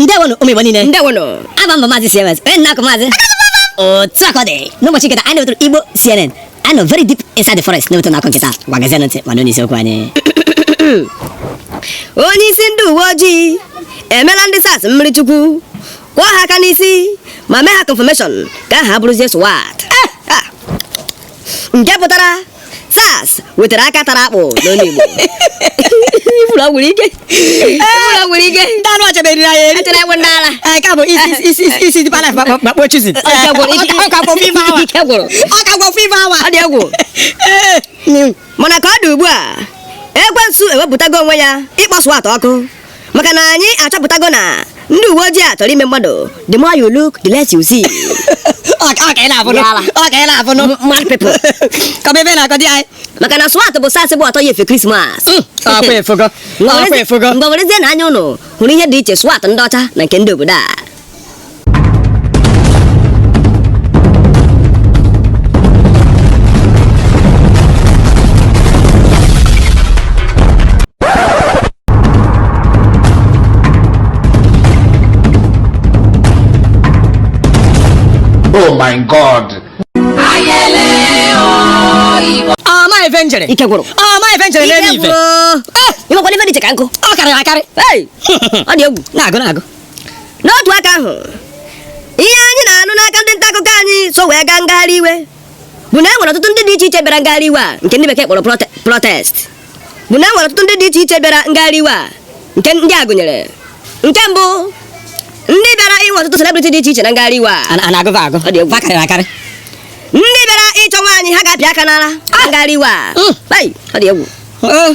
ndewonụ ụmụ Igbo niile ndewonụ aha m bụ maazị CMS onye nta akụkọ maazị otu a ka ọ dị n'ụbọchị nke taa anyị na-ewetara Igbo CNN anyị nọ very deep inside the forest na-ewetara unu akụkọ nke taa ngwa geezie ntị ma n'onye isiokwu anyị onye isi ndị uwe ojii emela ndị SARS mmiri chukwu kụọ ha aka n'isi ma mee ha confirmation ka ha bụrụzie SWAT eh, ah. nke pụtara SARS wetara aka tara akpụ n'olu Igbo ifuru nwere ike ifuru nwere ike ndị anụ ọcha meriri anyị eri echere egwu ndị ala Ee, nke a bụ isi isi isi isi dị palaf ma- ma- ma kpọọ chizi Ọka gwụrụ, ike- ọka gwọ fiva awa ike gwụrụ ọka gwọ fiva awa ọ dị egwu Ee, mm. mana ka ọ dị ugbu a ekwensu ewepụtago onwe ya ịkpọ SWAT ọkụ maka na anyị achọpụtago na ndị uwe ojii a chọrọ ime mmadụ the more you look the less you see my people kọba ihe ị na-akọ di anyị maka na SWAT bụ SARS bụ ọtọ ya efe krismas ngwa werezie na anya ụnụ hụrụ ihe dị iche SWAT ndị ọcha na nke ndị obodo a Oh my God. ọma ife njere ike gwụrụ ọma ife njere n'elu ife ị makwa na ife dị iche ka m kwuo karịrị akarị ọ dị egwu na-agụ na-agụ n'otu aka ahụ ihe anyị na-anụ n'aka ndị nta akụkọ anyị so wee gaa ngagharị iwe bụ na e nwere ọtụtụ ndị dị iche iche bịara ngagharị iwe a nke ndị bekee kpọrọ protest bụ na e nwere ọtụtụ ndị dị iche iche bịara ngagharị iwe a nke ndị a gụnyere nke mbụ ndị bịara inwe ọtụtụ celebrity dị iche iche na ngagharị iwe a na-agụva agụ ndị bịara ịchọ nwaanyị ha ga-apịa aka n'ala na ah! ngagharị iwe a hmm. ọ dị egwu oh.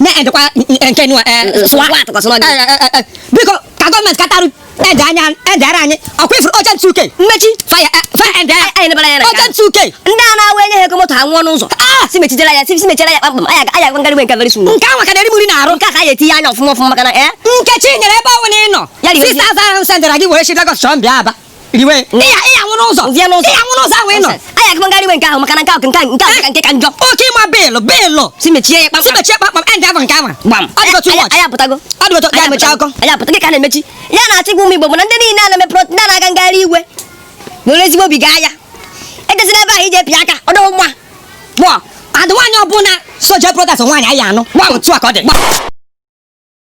na-edekwa nke nwa biko ka gọọmenti katarụ ede anya edere anyị ọkwa ị fụrụ oche ntụ uke mmechi faya ede oche ntụ uke ndị a na-awa enye ha ego moto ha nwụọ n'ụzọ ah! si mechijela ya si mechela ya kpamkpam anya anya a gaa ngagharị iwe nke very soon nke ahụ ka na-eri muri na-arụ nke a ka anyị etinye anya ọfụma ọfụma maka na eh? Nkechinyere ebe ọbụna ị nọ 6000 ahụ sendịra gị were chi Lagos chọọ m bịa Aba riwe ịya ịya nwụrụ ụzọ Nzie n'ụzọ. ịya nwụrụ ụzọ ahụ ị nọ anyị akụkọ ngagharị iwe nke ahụ maka na nke ahụ nke ahụ nke ahụ ka nke ka njọ oke ịma beelụ beelụ si mechie ya si kpamkpam mechie kpamkpam end ahụ nke ahụ gbam ọ dị otu Anyị- watch anyị apụtago ọ dị otu ya Anyị mechaa apụtago. akụkọ anyị apụta dịka a na-emechi ya na-achọ ịgwa ụmụ Igbo bụ na ndị niile a na-eme prot ndị a na-aga ngagharị iwe were ezigbo obi gaa ya ejezila ebe ahụ ije pịa aka ọ dịghị mma gbọ adị nwaanyị ọbụla so je protest nwaanyị anyị anụ gwa otu a ka ọ dị